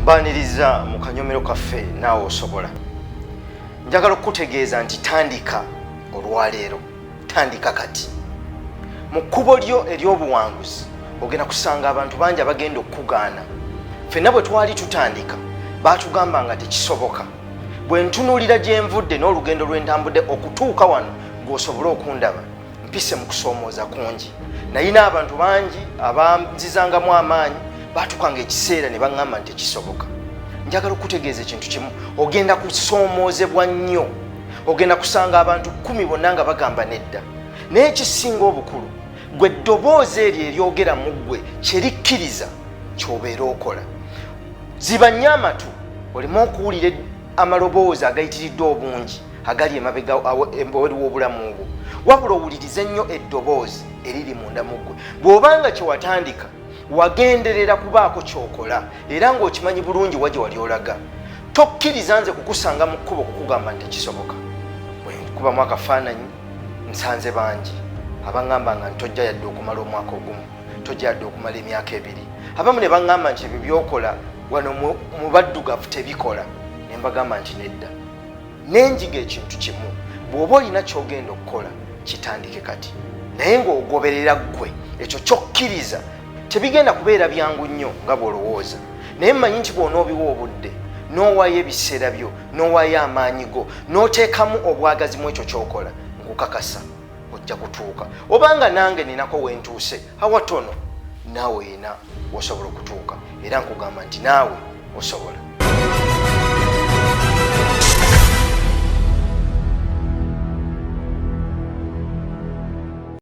mbaniriza mu kanyomero kaffe naawe osobola njagala okukutegeeza nti tandika olwaleero tandika kati mu kkubo lyo ery'obuwanguzi ogenda kusanga abantu bangi abagenda okukugaana fenna bwe twali tutandika baatugamba nga tekisoboka bwe ntunuulira gye nvudde n'olugendo lwe ntambudde okutuuka wano gweosobole okundaba mpise mu kusoomooza kungi naye n'abantu bangi abanzizangamu amaanyi baatukanga ekiseera ne baŋŋamba nti tekisoboka njagala okukutegeeza ekintu kimu ogenda kusoomoozebwa nnyo ogenda kusanga abantu kumi bonna nga bagamba nedda naye ekisinga obukulu gwe eddoboozi eryo eryogera mu ggwe kyerikkiriza kyobeera okola ziba nnyo amatu oleme okuwulira amaloboozi agayitiridde obungi agali emabega embaweri w'obulamu bwo wabula owulirize nnyo eddoboozi eriri munda mu ggwe bw'obanga kyewatandika wagenderera kubaako kyokola era ng'okimanyi bulungi wa gye wali olaga Tokkiriza nze kukusanga mu kkubo kukugamba nti kisoboka. Bwe nkubamu akafaananyi nsanze bangi abangamba nga ntojja yadde okumala omwaka ogumu tojja yadde okumala emyaka ebiri abamu ne bangamba nti ebyo byokola wano mu baddugavu tebikola ne mbagamba nti nedda nenjiga ekintu kimu bw'oba olina kyogenda okukola kitandike kati naye ng'ogoberera ggwe ekyo kyokkiriza tebigenda kubeera byangu nnyo nga bw'olowooza naye mmanyi nti bw'onoobiwa obudde n'owaayo ebiseera byo n'owaayo amaanyi go n'oteekamu obwagazi mu ekyo ky'okola nkukakasa ojja kutuuka obanga nange ninako wentuuse awatono naawe yina osobola okutuuka era nkugamba nti naawe osobola